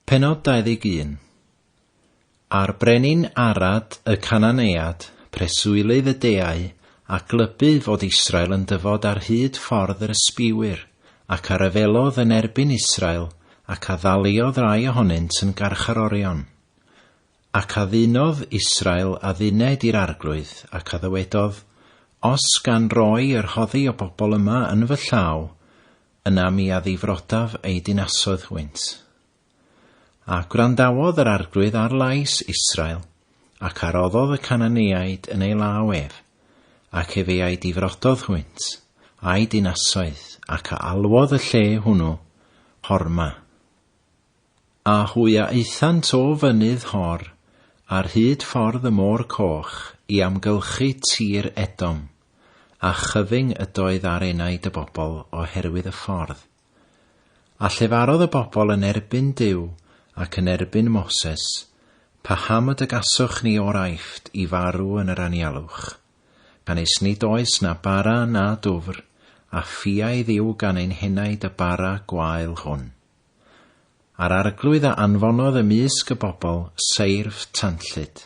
Pennod 21 A'r brenin Arad y Cananead, preswylydd y deau, a glybu fod Israel yn dyfod ar hyd ffordd yr ysbiwyr, ac a ryfelodd yn erbyn Israel, ac a ddaliodd rai ohonynt yn garcharorion. Ac a ddynodd Israel adduned i'r arglwydd, ac a ddywedodd, Os gan roi y rhoddi o bobl yma yn fy llaw, Yna mi addifrodaf ei dinasoedd hwynt. A gwrandawodd yr arglwydd ar lais Israel, ac a roddodd y Cananeaid yn ei law ef, ac ef ei difrododd hwynt, a'u dinasoedd, ac a alwodd y lle hwnnw Horma. A hwy a aethant o fynydd Hor ar hyd ffordd y Môr Coch i amgylchu tir Edom, a chyfyng ydoedd ar enaid y bobl o herwydd y ffordd. A llefarodd y bobl yn erbyn Duw ac yn erbyn Moses, Paham y dygaswch ni o'r Aifft i farw yn yr anialwch? Canys nid oes na bara na dwfr a ffiaidd yw gan ein henaid y bara gwael hwn. A'r Arglwydd a anfonodd ymysg y bobl seirf tanllyd,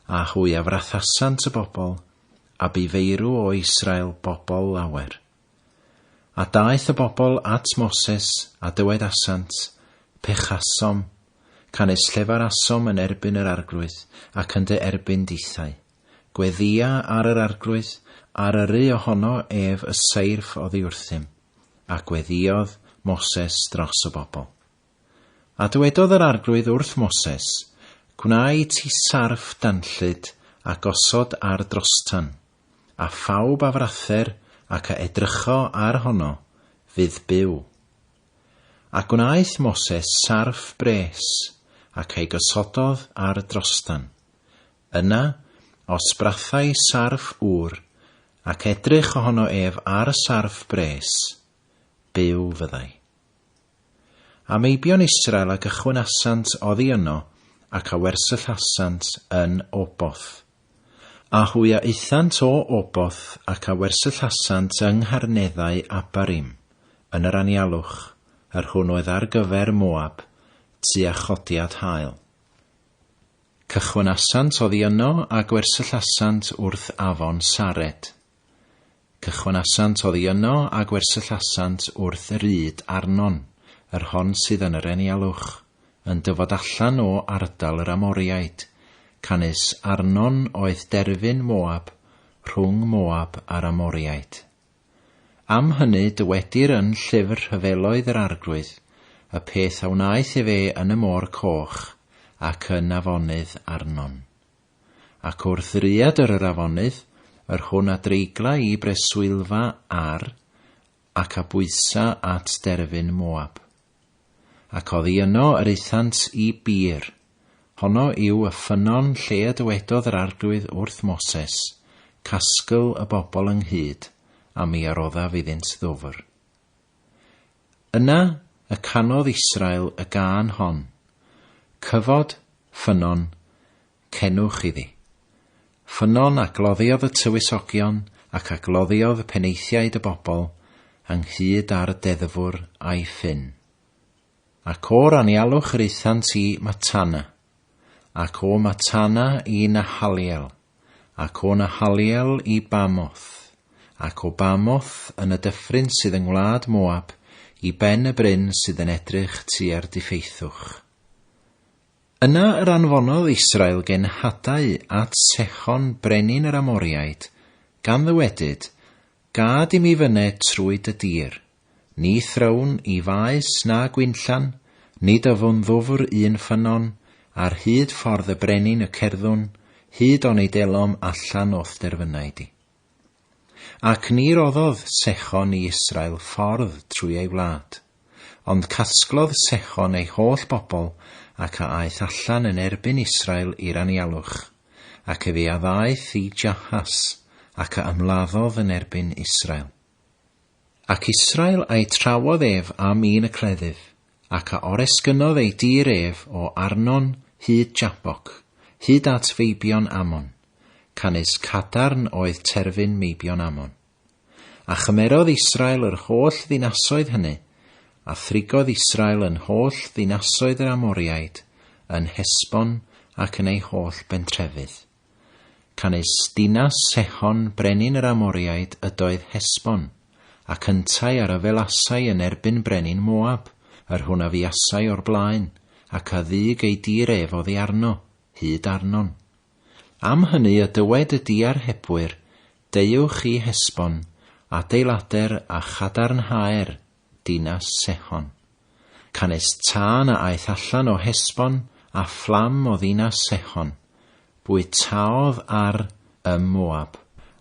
a hwy a frathasant y bobl, a bu feirw o Israel bobl lawer. A daeth y bobl at Moses, a dywedasant, Pechasom, canys llefarasom yn erbyn yr Arglwydd, ac yn dy erbyn dithau. Gweddïa ar yr arglwydd, ar yrru ohono ef y seirff oddi wrthym, a gweddïodd Moses dros y bobl. A dywedodd yr arglwydd wrth Moses, Gwnai ti sarff danllyd a gosod ar drostan, a phawb a frather ac a edrycho ar hono, fydd byw. A gwnaeth Moses sarff bres, ac ei gosododd ar drostan, Yna, os brathai sarff ŵr, ac edrych ohono ef ar y sarff bres, byw fyddai. A meibion Israel a gychwynasant oddi yno, ac a wersyllasant yn Oboth. A hwy a aethant o Oboth, ac a wersyllasant yng ngharneddau Abarim, yn yr anialwch, yr hwn oedd ar gyfer Moab, tua chodiad haul. Cychwynasant oddi yno a gwersyllasant wrth afon Saret. Cychwynasant oddi yno a gwersyllasant wrth yr ŷd Arnon, yr hon sydd yn yr Enialwch, yn dyfod allan o ardal yr Amoriaid, canys Arnon oedd derfyn Moab, rhwng Moab a'r Amoriaid. Am hynny dywedir yn Llyfr Rhyfeloedd yr Arglwydd y peth a wnaeth ef e yn y Môr Coch ac yn afonydd Arnon. Ac o'r ddrïadr yr afonydd, yr hwn a dreigla i breswylfa Ar, ac a bwysa at derfyn Moab. Ac oddi yno yr aethant i Beer. Honno yw y ffynnon lle y dywedodd yr Arglwydd wrth Moses, Casgl y bobl ynghyd, a mi a roddaf iddynt ddwfr. Yna y canodd Israel y gân hon, Cyfod, ffynnon, Cenwch iddi. Ffynnon a gloddiodd y tywysogion ac a gloddiodd penaethiaid y bobl ynghyd â'r deddfwr a'i ffyn. Ac o'r anialwch yr aethant i Matana, ac o Matana i Nahaliel, ac o Nahaliel i Bamoth, ac o Bamoth yn y dyffryn sydd yng ngwlad Moab i ben y bryn sydd yn edrych tua'r diffeithwch. Yna yr anfonodd Israel genhadau at Sechon brenin yr Amoriaid, gan ddywedyd, Gad i mi fyne trwy dy dir. Ni thrown i faes na gwinllan, nid yfwn ddwfr un ffynnon, ar hyd ffordd y brenin y cerddwn, hyd onid elom allan o'th derfynau di. Ac ni roddodd Sechon i Israel ffordd trwy ei wlad, ond casglodd Sechon ei holl bobl ac a aeth allan yn erbyn Israel i'r anialwch, ac efe a ddaeth i Jahas, ac a ymladdodd yn erbyn Israel. Ac Israel a'i trawodd ef am un y cleddyf, ac a oresgynnodd ei dir ef o Arnon hyd Jaboc, hyd at feibion Ammon, canys cadarn oedd terfyn meibion Ammon. A chymerodd Israel yr holl ddinasoedd hynny, a thrigodd Israel yn holl ddinasoedd yr Amoriaid, yn Hesbon ac yn ei holl bentrefydd. Canys dinas Sehon brenin yr Amoriaid ydoedd Hesbon, ac yntau a ryfelasai yn erbyn brenin Moab, yr hwn a fuasai o'r blaen, ac a ddug ei dir ef oddi arno, hyd Arnon. Am hynny y dywed y diarhebwyr, Deuwch i Hesbon, adeilader a chadarnhaer dinas Sehon. Canys tân a aeth allan o Hesbon, a fflam o ddinas Sehon, bwytaodd ar ym Moab,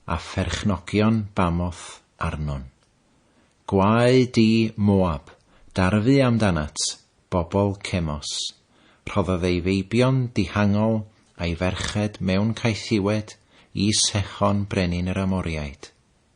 a pherchnogion Bamoth Arnon. Gwae di, Moab, darfu amdanat, bobl Cemos! Rhoddodd ei feibion dihangol a'i ferched mewn caethiwed i Sehon brenin yr Amoriaid.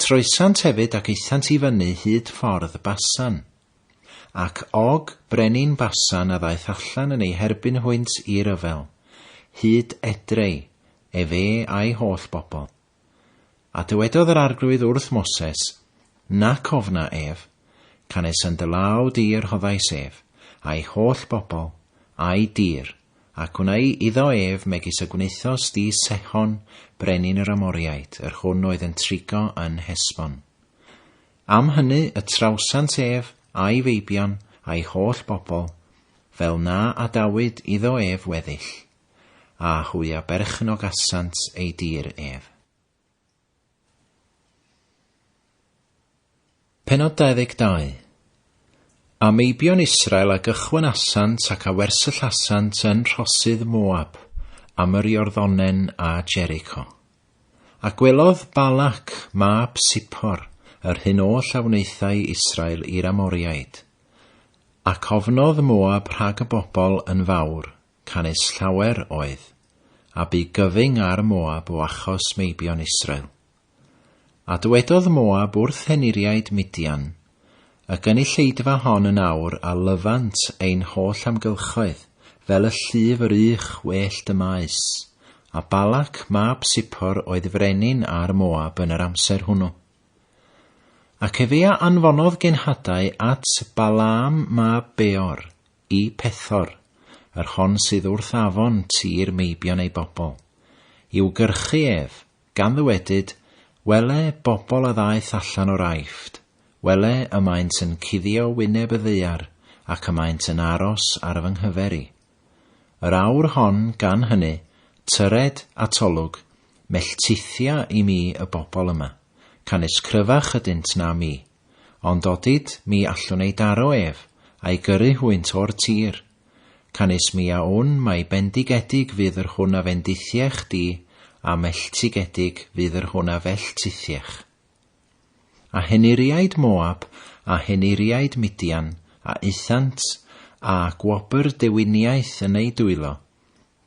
Troesant hefyd ac aethant i fyny hyd ffordd Basan. Ac Og, brenin Basan a ddaeth allan yn eu herbyn hwynt i ryfel, hyd Edrei, ef e a'i holl bobl. A dywedodd yr Arglwydd wrth Moses, Nac ofna ef, canes yn dy law di a rhoddais ef, a'i holl bobl, a'i dir, a gwnai iddo ef megis y gwnaethos di Sehon, brenin yr Amoriaid, yr hwn oedd yn trigo yn Hesbon. Am hynny y trawsant ef, a'i feibion, a'i holl bobl, fel na adawyd iddo ef weddill, a hwy a berchnogasant ei dir ef. Penod 22. A meibion Israel a gychwynasant ac a wersyllasant yn rhosydd Moab, am yr Iorddonen a Jericho. A gwelodd Balak, mab Sipor, yr hyn oll a wnaethai Israel i'r Amoriaid. Ac ofnodd Moab rhag y bobl yn fawr, canys llawer oedd, a bu gyfyng ar Moab o achos meibion Israel. A dywedodd Moab wrth henuriaid Midian, Y gynulleidfa hon yn awr a lyfant ein holl amgylchoedd, fel y llif yr ych wellt y maes. A Balac mab Sipor oedd frenin ar Moab yn yr amser hwnnw. Ac efe a anfonodd genhadau at Balaam mab Beor, Y Pethor, yr hon sydd wrth afon tir meibion ei bobl. I'w gyrchu ef, gan ddywedyd, Wele, bobl a ddaeth allan o'r Aifft, wele, y maent yn cuddio wyneb y ddaear, ac y maent yn aros ar fy nghyfer i. Yr awr hon, gan hynny, tyred, atolwg, melltithia i mi y bobl yma, canys cryfach ydynt na mi, Ond odid mi allwn ei daro ef, a'i gyrru hwynt o'r tir. Canys mi a wn mai bendigedig fydd yr hwn a fendithiech di, a melltigedig fydd yr hwn a felltithiech. A henuriaid Moab, a henuriaid Midian, a aethant, a gwobr dewiniaeth yn eu dwylo,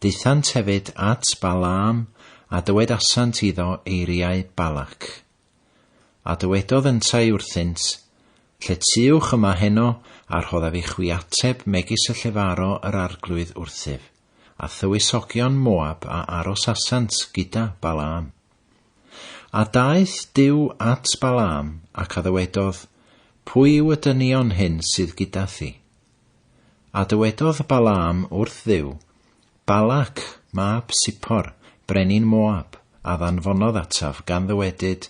daethant hefyd at Balaam, a dywedasant iddo eiriau Balak. A dywedodd yntau wrthynt, Lle tuwch yma heno, a rhoddaf i chwi ateb megis y llefaro yr Arglwydd wrthyf, a thywysogion Moab a arosasant gyda Balaam. A daeth Duw at Balaam, ac a ddywedodd, Pwy yw y dynion hyn sydd gyda thi? A dywedodd Balaam wrth Dduw, Balac, mab Sippor, brenin Moab, a ddanfonodd ataf, gan ddywedyd,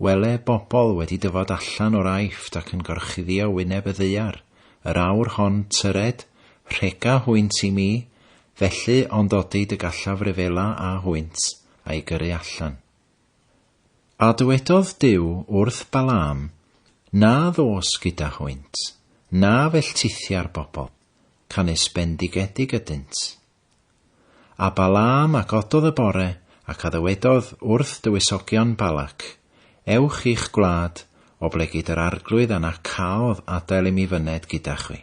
Wele bobl wedi dyfod allan o'r Aifft ac yn gorchuddio wyneb y ddaear, yr awr hon, tyred, rhega hwynt i mi, felly, ond odid y gallaf ryfela â hwynt, a'i gyrru allan. A dywedodd Duw wrth Balaam, Na ddos gyda hwynt, na felltithia'r bobl, canys bendigedig ydynt. A Balaam a gododd y bore, ac a ddywedodd wrth dywysogion Balac, Ewch i'ch gwlad, oblegid yr arglwydd a na caodd adael i mi fyned gyda chwi.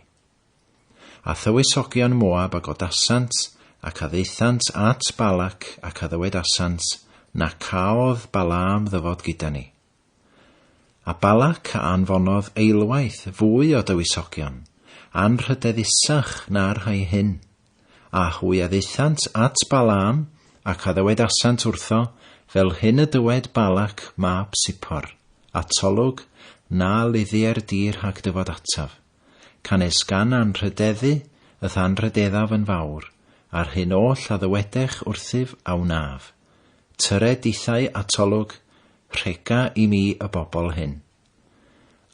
A thywysogion Moab a godasant, ac a ddaethant at Balac, ac a ddywedasant, Na caodd Balaam ddyfod gyda ni. A Balak a anfonodd eilwaith fwy o dywysogion, anrhydeddusach na'r rhai hyn. A hwy a ddaethant at Balaam, ac a ddywedasant wrtho, Fel hyn y dywed Balak mab Sippor, atolwg, na luddieir di rhag dyfod ataf, canys gan anrhydeddu y'th anrhydeddaf yn fawr, a'r hyn oll a ddywedech wrthyf a wnaf. Tyre dithau, atolwg, Rhega i mi y bobl hyn.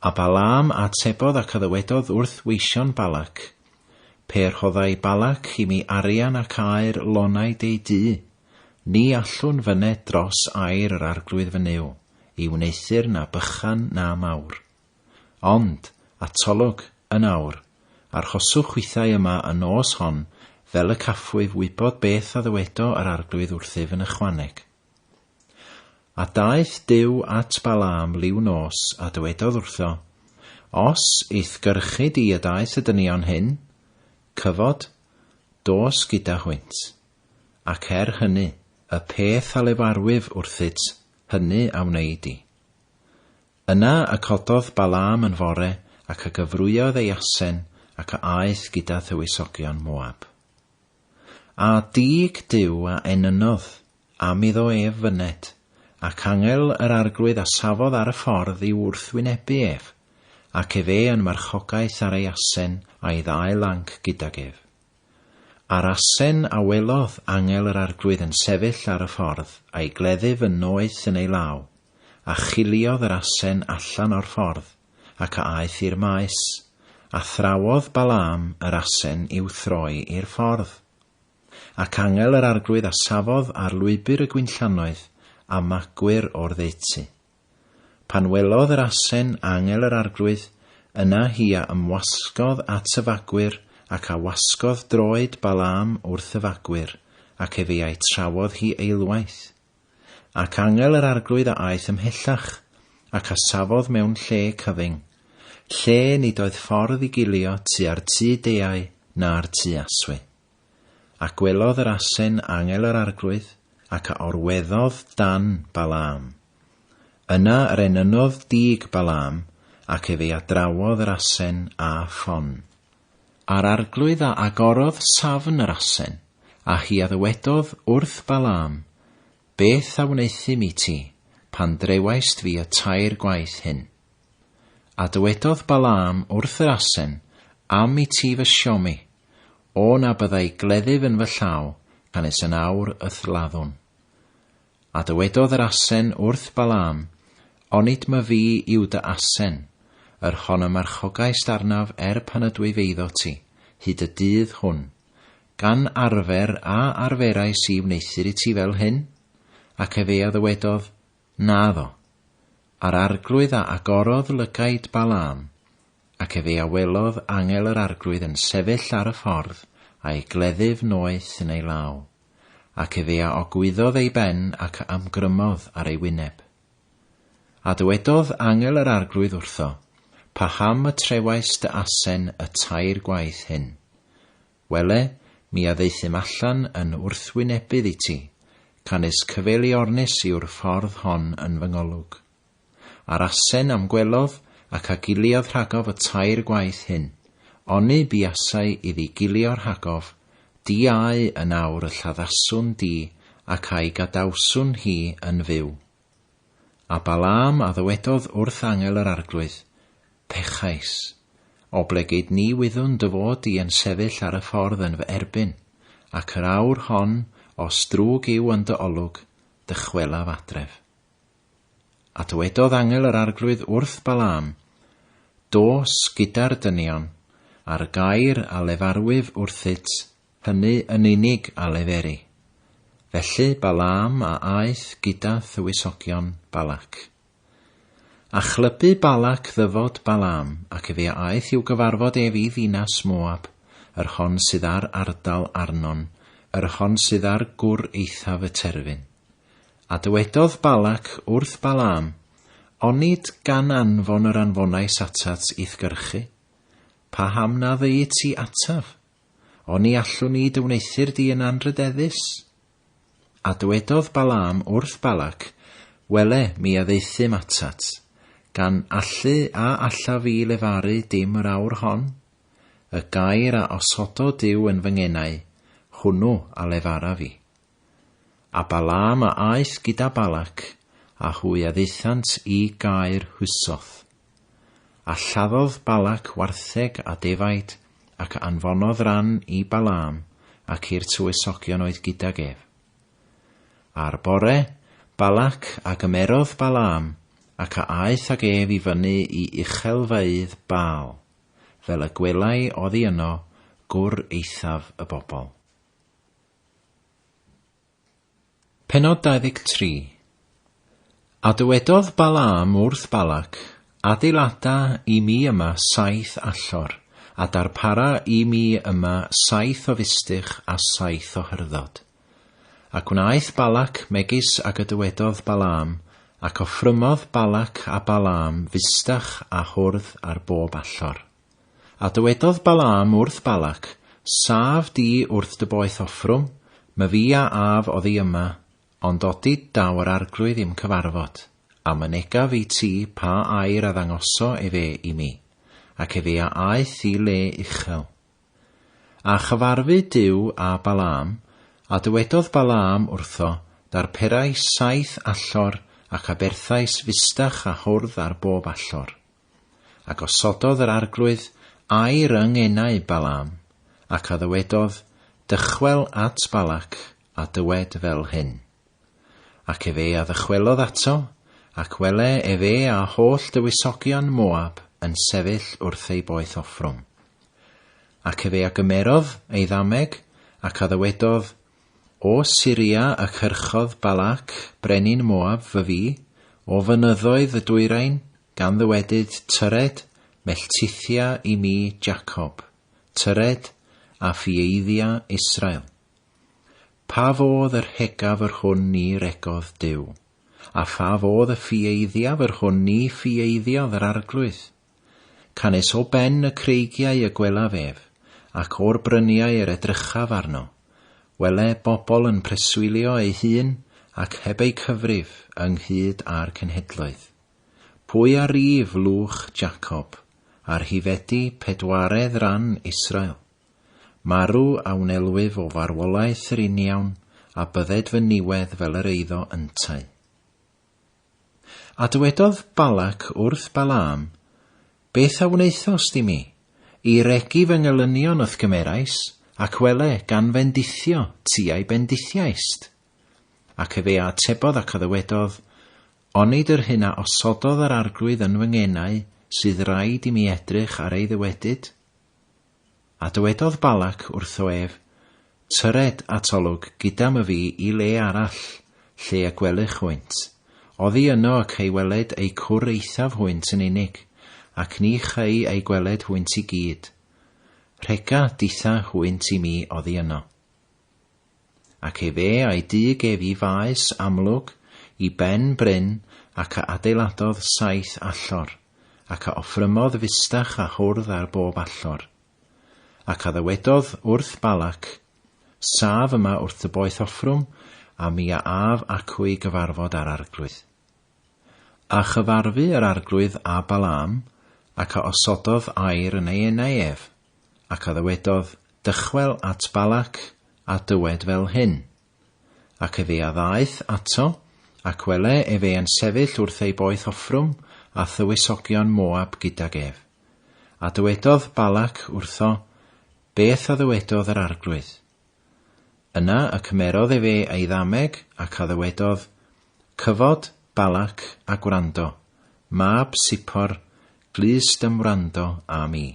A Balaam a atebodd ac a ddywedodd wrth weision Balac, Pe rhoddai Balac i mi arian ac aer lonaid ei dŷ, ni allwn fyned dros aer yr arglwydd fy Nuw, i wneuthur na bychan na mawr. Ond, atolwg, yn awr, arhoswch chwithau yma y nos hon, fel y caffwyf wybod beth a ddywedo yr arglwydd wrthyf yn ychwaneg. A daeth Duw at Balaam liw nos, a dywedodd wrtho, Os i'th gyrchu di y daeth y dynion hyn, cyfod, dos gyda hwynt. Ac er hynny, y peth a lefarwyf wrthyt, hynny a wnei di. Yna y cododd Balaam yn fore, ac a gyfrwyodd ei asen, ac a aeth gyda thywysogion Moab. A dug Duw a enynnodd, am iddo ef fyned, ac angel yr Arglwydd a safodd ar y ffordd i'w wrthwynebu ef, ac efe yn marchogaeth ar ei asen a'i ddau lanc gydag ef. A'r asen a welodd angel yr Arglwydd yn sefyll ar y ffordd a'i gleddyf yn noeth yn ei law, a chiliodd yr asen allan o'r ffordd, ac a aeth i'r maes, a thrawodd Balaam yr asen i'w throi i'r ffordd. Ac angel yr Arglwydd a safodd ar lwybr y gwinllannoedd a magwyr o'r ddeutu. Pan welodd yr asen angel yr Arglwydd, yna hi a ymwasgodd at y fagwyr ac a wasgodd droed Balaam wrth y fagwyr, ac efe a'i trawodd hi eilwaith. Ac angel yr Arglwydd a aeth ymhellach, ac a safodd mewn lle cyfyng, lle nid oedd ffordd i gilio tua'r tŷ deau na'r tŷ aswy. A gwelodd yr asen angel yr Arglwydd, ac a orweddodd dan Balaam. Yna yr enynodd dug Balaam, ac ef ei adrawodd yr asen â ffon. A'r Arglwydd a agorodd safn yr asen, a hi a ddywedodd wrth Balaam, Beth a wneuthum i ti, pan drewaist fi y tair gwaith hyn? A dywedodd Balaam wrth yr asen, Am i ti fy siomi, o na byddai gleddyf yn fy llaw, canys yn awr y thladdwn. A dywedodd yr asen wrth Balaam, Onid my fi yw dy asen, yr hon y marchogaist arnaf er pan ydw i feiddo ti, hyd y dydd hwn? Gan arfer a arferais i wneuthur i ti fel hyn? Ac ef ei a ddywedodd, Naddo. A'r arglwydd a agorodd lygaid Balaam, ac ef ei a welodd angel yr arglwydd yn sefyll ar y ffordd, a'i gleddyf noeth yn ei law. Ac efe a ogwyddodd ei ben ac a ymgrymodd ar ei wyneb. A dywedodd angel yr Arglwydd wrtho, Paham y trewaist dy asen y tair gwaith hyn? Wele, mi a ddaethum allan yn wrthwynebydd i ti, canys cyfeiliornus yw'r ffordd hon yn fy ngolwg. A'r asen am gwelodd ac a giliodd rhagof y tair gwaith hyn, oni buasai iddi gilio rhagof, di au yn awr y lladdaswn di ac a'i gadawswn hi yn fyw. A Balaam a ddywedodd wrth angel yr Arglwydd, Pechais, oblegid ni wyddwn dy fod di yn sefyll ar y ffordd yn fy erbyn, ac yr awr hon, os drwg yw yn dy olwg, dychwelaf adref. A dywedodd angel yr Arglwydd wrth Balaam, Dos gyda'r dynion, a'r gair a lefarwyf wrthyt, hynny yn unig a leferi. Felly Balaam a aeth gyda thywysogion Balac. A chlybu Balac ddyfod Balaam, ac efe a aeth i'w gyfarfod ef i ddinas Moab, yr hon sydd ar ardal Arnon, yr hon sydd ar gwr eithaf y terfyn. A dywedodd Balak wrth Balaam, Onid gan anfon yr anfonais atat i'th gyrchu? Paham na ddeu ti ataf? Oni allwn i dy wneuthur di yn anrydeddus? A dywedodd Balaam wrth Balak, Wele, mi addeuthum atat, gan allu a alla fi lefaru dim yr awr hon? Y gair a osodo Dyw yn fy ngenau, hwnnw a lefara fi. A Balaam a aeth gyda Balak, a hwy a ddaethant i gaer Husoth. A lladdodd Balak wartheg a defaid, ac anfonodd ran i Balaam ac i'r tywysogion oedd gydag ef. A'r bore, Balak a gymerodd Balaam, ac a aeth ag ef i fyny i uchelfeydd Baal, fel y gwelai oddi yno gwr eithaf y bobl. Penod 23 A dywedodd Balaam wrth Balac, Adeilada i mi yma saith allor, a darpara i mi yma saith o fistych a saith o hyrddod. Ac wnaeth Balac megis ag y dywedodd Balaam, ac offrymodd Balac a Balaam fistych a hwrdd ar bob allor. A dywedodd Balaam wrth Balac, Saf di wrth dy boeth offrwm, my fi a af oddi yma, ond odi daw yr Arglwydd i'm cyfarfod, a mynega fi ti pa air a ddangoso efe i mi, ac efe a aeth i le uchel. A chyfarfu Duw â Balaam, a dywedodd Balaam wrtho, Darperais saith allor, ac aberthais fustach a hwrdd ar bob allor. A gosododd yr Arglwydd a'i ryng enau Balaam, ac a ddywedodd, Dychwel at Balac, a dywed fel hyn. Ac efe a ddychwelodd ato, ac wele efe a holl dywysogion Moab yn sefyll wrth ei boeth offrwm. Ac efe a gymerodd ei ddameg, ac a ddywedodd, O Syria y cyrchodd Balac, brenin Moab, fy fi, o fynyddoedd y dwyrain, Gan ddywedyd, Tyred, melltithia i mi Jacob, tyred, a phieiddia Israel. Pa fodd yr hegaf yr hwn ni regodd Duw? A pha fodd y phieiddiaf yr hwn ni phieiddiadd yr Arglwydd? Canys o ben y creigiau y gwelaf ef, ac o'r bryniau yr edrychaf arno, wele bobl yn preswylio ei hun ac heb eu cyfrif ynghyd â'r cenhedloedd. Pwy a ryf lwch Jacob, a rhifedi pedwaredd ran Israel? Marw a wnelwyf o farwolaeth yr uniawn a bydded fy niwedd fel yr eiddo yntau. A dywedodd Balac wrth Balaam, Beth a wnaethost i mi? I regi fy ngelynion wrth gymerais, ac wele, gan fendithio, tiau bendithiaist. Ac efe a atebodd ac a ddywedodd, Onid yr hyn a osododd yr Arglwydd yn fy ngenau sydd raid i mi edrych ar ei ddywedyd? A dywedodd Balak wrtho ef, Tyred at olwg gydam y fi i le arall, lle y gwelych hwynt. Oddi yno y cei weled eu cwr eithaf hwynt yn unig, ac ni chei eu gweled hwynt i gyd. Rhega ditha hwynt i mi oddi yno. Ac efe a'i dug ef i faes amlwg i ben bryn, ac a adeiladodd saith allor, ac a offrymodd fustach a hwrdd ar bob allor. Ac a ddywedodd wrth Balac, Saf yma wrth dy boeth offrwm, a mi a af acw i gyfarfod â'r arglwydd. A chyfarfu yr arglwydd â Balaam, ac a osododd air yn ei enau ef, Ac a ddywedodd, Dychwel at Balac, a dywed fel hyn. Ac efe a ddaeth ato, ac wele efe yn sefyll wrth ei boeth offrwm, a thywysogion Moab gydag ef. A dywedodd Balac wrtho beth a ddywedodd yr Arglwydd. Yna y cymerodd efe ei ddameg, ac a ddywedodd, Cyfod, Balac, a gwrando, mab Sippor, glust ym wrando â mi.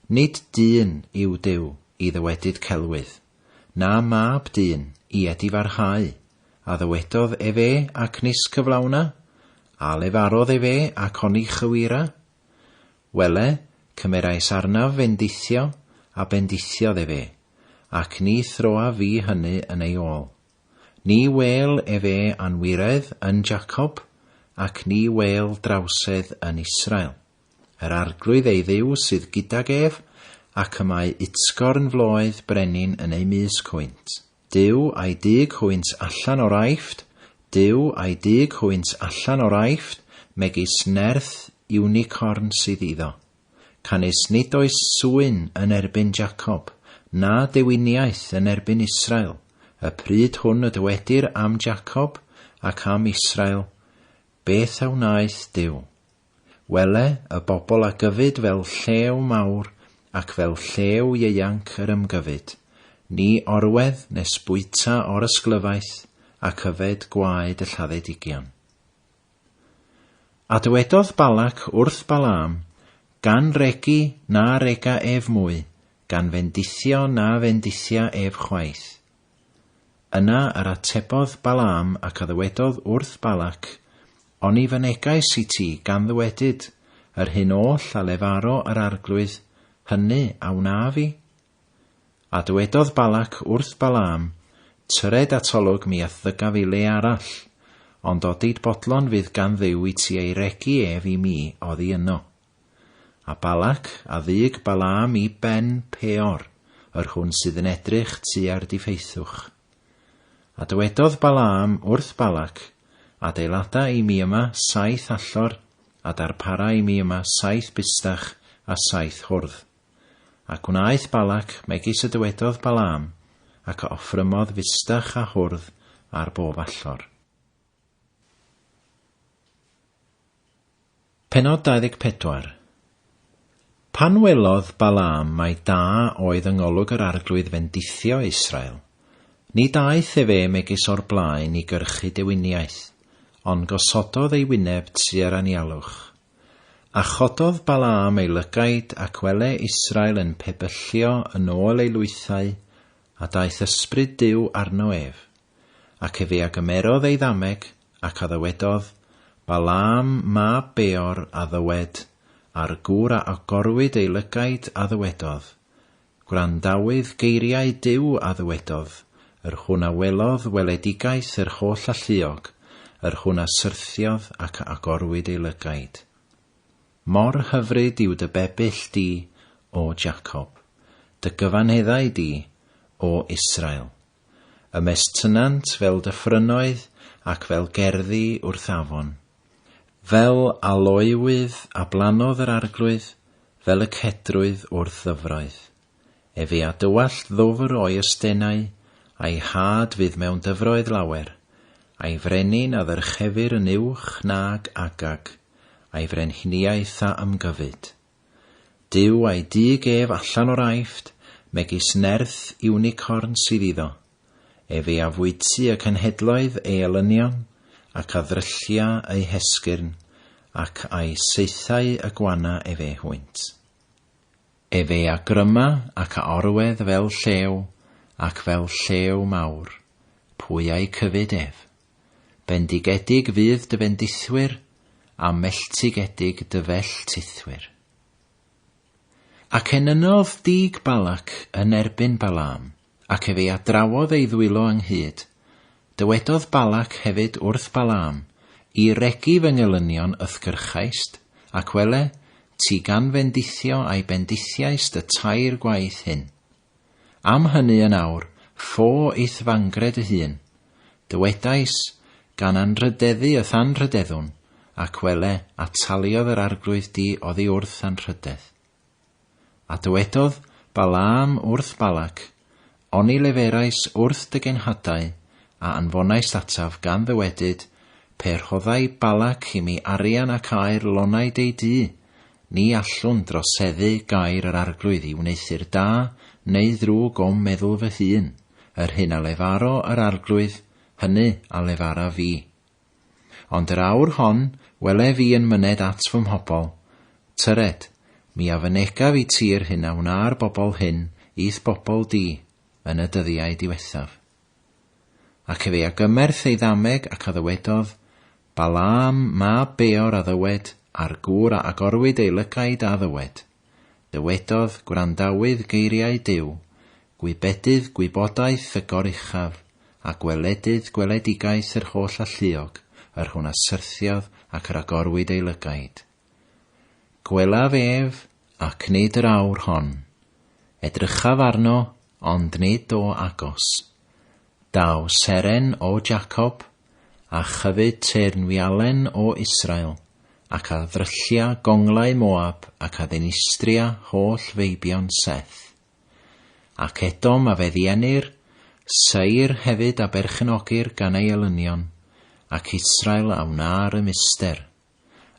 Nid dyn yw Duw i ddywedyd celwydd, na mab dyn i edifarhau, a ddywedodd efe ac nis cyflawna? a lefarodd efe ac oni chywira? Wele, cymerais arnaf fendithio, a bendithiodd efe, ac ni throaf fi hynny yn ei ôl. Ni wêl efe anwiredd yn Jacob, ac ni wêl drawsedd yn Israel. Yr Arglwydd ei Dduw sydd gydag ef, ac y mae utsgorn floedd brenin yn ei mysg hwynt. Duw a'i dug hwynt allan o'r Aifft, Duw a'i dug hwynt allan o'r Aifft, megis nerth iwnicorn sydd iddo. Canys nid oes swyn yn erbyn Jacob, na dewiniaeth yn erbyn Israel, y pryd hwn y dywedir am Jacob ac am Israel, Beth a wnaeth Duw? Wele y bobl a gyfyd fel llew mawr ac fel llew ieuanc yr ymgyfyd, ni orwedd nes bwyta or ysglyfaeth ac yfed gwaed y lladdedigion. A dywedodd Balak wrth Balaam, Gan regi na rega ef mwy, gan fendithio na fendithia ef chwaith. Yna yr atebodd Balaam ac a ddywedodd wrth Balac, Oni fynegais i ti gan ddywedyd yr hyn oll a lefaro yr arglwydd, hynny a wnaf i? A dywedodd Balac wrth Balaam, Tyred atolwg mi a'th ddygaf i le arall, ond odid bodlon fydd gan Dduw i ti ei regi ef i mi oddi yno. A Balak, a ddug Balaam i ben Peor, yr hwn sydd yn edrych tua'r difeithwch. A dywedodd Balaam wrth Balak, Adeilada i mi yma saith allor, a darpara i mi yma saith bustach a saith hwrdd. A gwnaeth Balak megis y dywedodd Balaam, ac a offrymodd fustach a hwrdd ar bob allor. Pennod 24 Pan welodd Balaam mai da oedd yngolwg yr Arglwydd fendithio Israel, nid aeth ef ef megis o'r blaen i gyrchu dewiniaeth, ond gosododd ei wyneb tua'r anialwch. A chododd Balaam ei lygaid, ac wele Israel yn pebyllio yn ôl ei lwythau, a daeth ysbryd Duw arno ef. Ac efe a gymerodd ei ddameg, ac a ddywedodd, Balaam mab Beor, a ddywed, a'r gŵr a agorwyd ei lygaid, a ddywedodd, Gwrandawydd geiriau Duw, a ddywedodd, Yr hwn a welodd weledigaeth yr holl alluog, yr hwn a syrthiodd ac a agorwyd ei lygaid. Mor hyfryd yw dy bebyll di, O Jacob, dy gyfanheddau di, O Israel. Ymestynnant fel dyffrynnoedd ac fel gerddi wrth afon. Fel aloewydd a blannodd yr arglwydd, fel y cedrwydd wrth ddyfroedd. Efe a dywallt ddwfr o'i ystennau, a'i had fydd mewn dyfroedd lawer, a'i frenin a ddyrchefir yn uwch nag Agag, a'i frenhiniaeth a ymgyfyd. Duw a'i dug ef allan o'r Aifft, megis nerth iwnicorn sydd iddo, ef ei afwytu y cenhedloedd ei elynion, ac a ddryllia eu hesgyrn, ac a'u saethau y gwana ef eu hwynt. Ef ei agryma ac a orwedd fel llew, ac fel llew mawr, pwy a'i cyfyd ef? Bendigedig fydd dy fendithwyr, a melltigedig dy felltithwyr. Ac enynodd dug Balac yn erbyn Balaam, ac ef ei adrawodd ei ddwylo ynghyd. Dywedodd Balac hefyd wrth Balaam, I regi fy ngelynion ythgyrchaist, ac wele, ti gan fendithio a'i bendithiaist y tair gwaith hyn. Am hynny yn awr, fo eithfangred y hun, dywedais, gan anrhydeddu y thanrhydeddwn, ac wele, ataliodd yr arglwydd di oddi wrth anrhydedd. A dywedodd Balaam wrth Balac, Oni leferais wrth dy genhadau, a anfonais ataf, gan ddywedyd, Pe rhoddai Balac i mi arian ac aer lonnai dei du, Ni allwn droseddu gair yr Arglwydd i wneuthur da neu ddrwg o'm meddwl fy hun, yr hyn a lefaro yr Arglwydd, hynny a lefara fi. Ond yr awr hon wele fi yn myned at fy mhobl, tyred, mi a fynegaf i ti'r hyn a wna'r bobl hyn i'th bobl di yn y dyddiau diwethaf. Ac ef ei agymerth ei ddameg ac a ddywedodd, Balaam mab Beor a ddywed, a'r gŵr a agorwyd ei lygaid a ddywed. Dywedodd, Gwrandawydd geiriau Duw, gwybedydd gwybodaeth y Goruchaf, a gweledydd gweledigaeth yr holl alluog, yr hwn a syrthiodd ac yr agorwyd ei lygaid. Gwelaf ef, ac nid yr awr hon. Edrychaf arno, ond nid o agos. Daw seren o Jacob, a chyfyd teyrnwialen o Israel, ac a ddryllia gonglau Moab ac a ddinistria holl feibion Seth. Ac Edom a fe ddienir, Seir hefyd a berchenogir gan ei elynion, ac Israel a wna'r ymyster.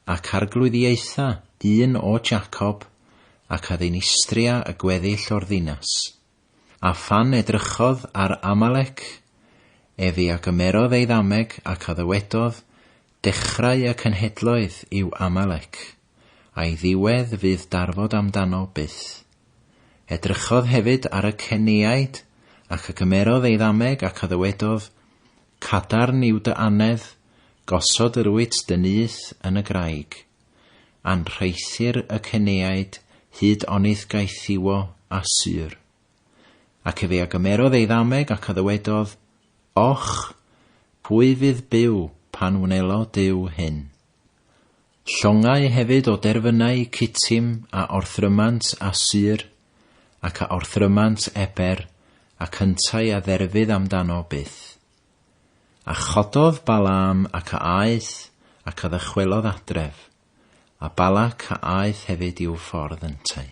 ac arglwyddiaetha un o Jacob, ac a ddinistria y gweddill o'r ddinas. A phan edrychodd ar Amalec, ef i a gymerodd ei ddameg ac a ddywedodd, Dechrau y cenhedloedd yw Amalec, a'i ddiwedd fydd darfod amdano byth. Edrychodd hefyd ar y Ceniaid, ac a gymerodd ei ddameg ac a ddywedodd, Cadarn yw dy annedd, gosod yr wyt dy nyth yn y graig. Anrheithir y ceneaid hyd onyth gaethiwo a sur. Ac efe a gymerodd ei ddameg ac a ddywedodd, Och! pwy fydd byw pan wnelo Duw hyn? Llongau hefyd o derfynau Cittim a orthrymant a Sur, ac a orthrymant Eber, ac yntau a dderfydd amdano byth. A chododd Balaam ac a aeth, ac a ddychwelodd adref, a Balak a aeth hefyd i'w ffordd yntau.